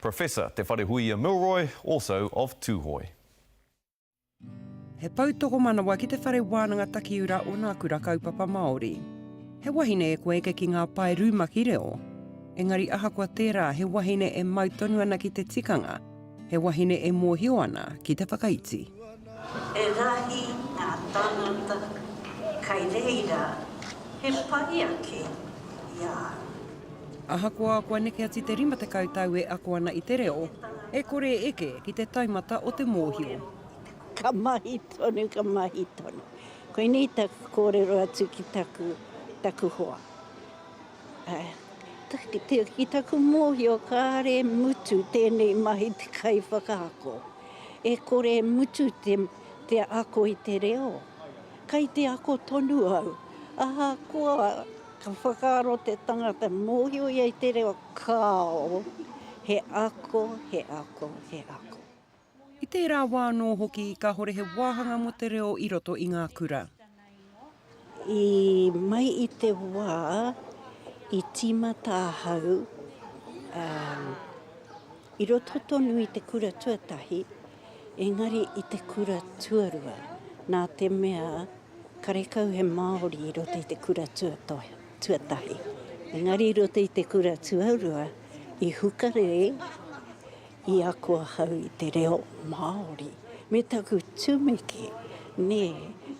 Professor Te Wharehuia Milroy, also of Tūhoe. He pou tokomanawa ki Te Whare Wānanga Takiura o Nā Kura Kaupapa Māori. He wahine e kua eke ki ngā pae rumaki reo. Engari ahakoa tērā, he wahine e mau tonu ana ki te tikanga, he wahine e mōhio ana ki te whakaiti. He rahi ngā tāngata kai reira he pai ake i a au. Ahakoa kua neke atu te rima tekau tau e ako ana i te reo, e kore e eke ki te taumata o te mōhio. Ka mahi tonu, ka mahi tonu. Koinei taku kōrero atu ki taku hoa. Ki taku mōhio kāre e mutu tēnei mahi te kaiwhakaako. E kore e mutu te ako i te reo. Kai te ako tonu au. Ahakoa ka whakaaro te tangata mōhio ia i te reo, kāo. He ako, he ako, he ako. I tērā wā anō hoki kāore he wāhanga mō te reo i roto i ngā kura. I mai i te wā i tīmata ahau i roto tonu i te kura tuatahi, engari i te kura tuarua, nā te mea karekau he Māori i roto i te kura tuatahi. Engari i roto i te kura tuarua, i hukarere, I ako ahau i te reo Māori me taku tumeke, nē,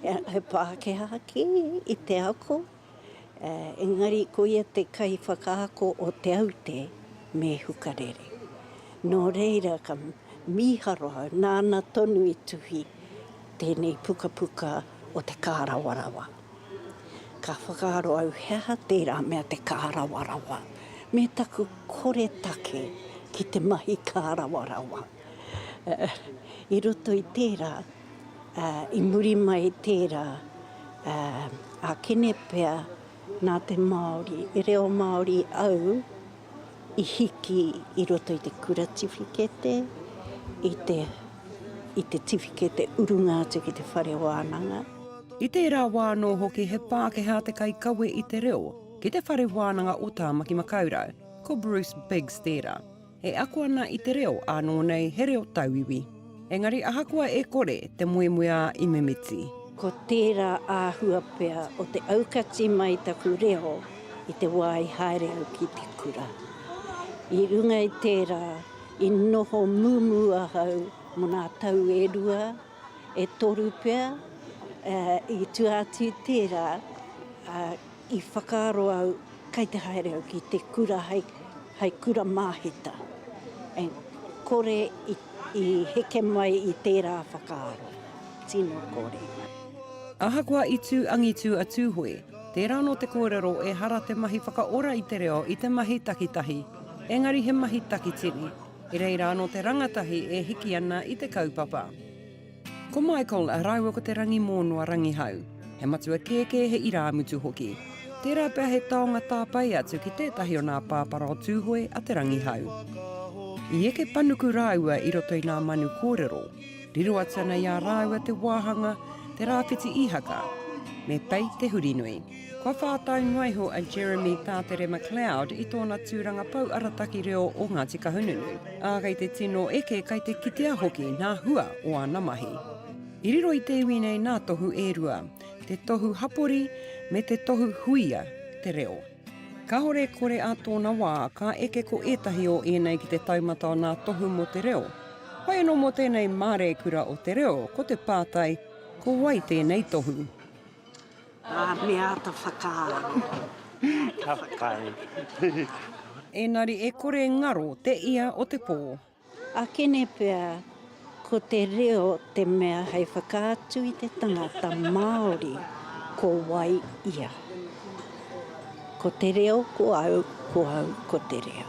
he Pākehā kē i te ako, engari koia te kaiwhakaako o Te Aute me Hukarere. Nō reira ka mīharo au nāna tonu i tuhi tēnei pukapuka o Te Kārawarawa. Ka whakaaro au he aha tērā mea te kārawarawa me taku koretake ki te mahi kārawarawa. I roto i tērā, i muri mai i tērā, ākene pea nā te Māori, e reo Māori au, i hiki i roto i te kura tiwhikete, i te, i te tiwhikete urunga atu ki te whare wānanga. I tērā wā anō hoki he Pākehā te kaikawe i te reo ki te whare wānanga o Tāmaki Makaurau, ko Bruce Biggs tērā, e ako ana i te reo ānō nei he reo tauiwi. Engari ahakoa e kore te moemoeā i mimiti. Ko tērā āhua pea o te aukati mai taku reo i te wā i haere au ki te kura. I runga i tērā, i noho mumu ahau mo nā tau e rua, e toru pea, ā, i tua atu i tērā, ā, I whakaaro au kai te haere au ki te kura hai kura māhita, and kore i heke mai i tērā whakaaro, tino kore. Ahakoa i tū angitu a Tūhoe, tērā anō te kōrero ehara te mahi whakaora i te reo i te mahi takitahi, engari he mahi takitini, e reira anō te rangatahi e hiki ana i te kaupapa. Ko Michael rāua ko Te Rangimōnoa Rangihau. He matua kēkē, he irāmutu hoki. Tērā pea he taonga tāpae atu ki tētahi o nā pāpara o Tūhoe a Te Rangihau. I eke panuku rāua i roto i nā manu kōrero. Riro atu ana i a rāua te wāhanga, te rāwhiti īhaka. Me pei te hurinui. Kua whātai noa iho a Jeremy Tātere McLeod i tōna tūranga pou arataki reo o Ngāti Kahungunu, ā, kei te tino eke, kei te kitea hoki ngā hua o āna mahi. I riro i te iwi nei nā tohu e rua, te tohu hapori me te tohu huia te reo. Kāore kore ā tōna wā, ka eke ko ētahi o ēnei ki te taumata o nā tohu mō te reo. Whai anō mō tēnei māreikura o te reo, ko te pātai, ko wai tēnei tohu? Me āta whakaaro. Me āta whakaaro. Engari e kore ngaro te ia o te pō. Akene pea ko te reo te mea hei whakaatu i te tangata Māori ko wai ia. Ko te reo ko au, ko au ko te reo.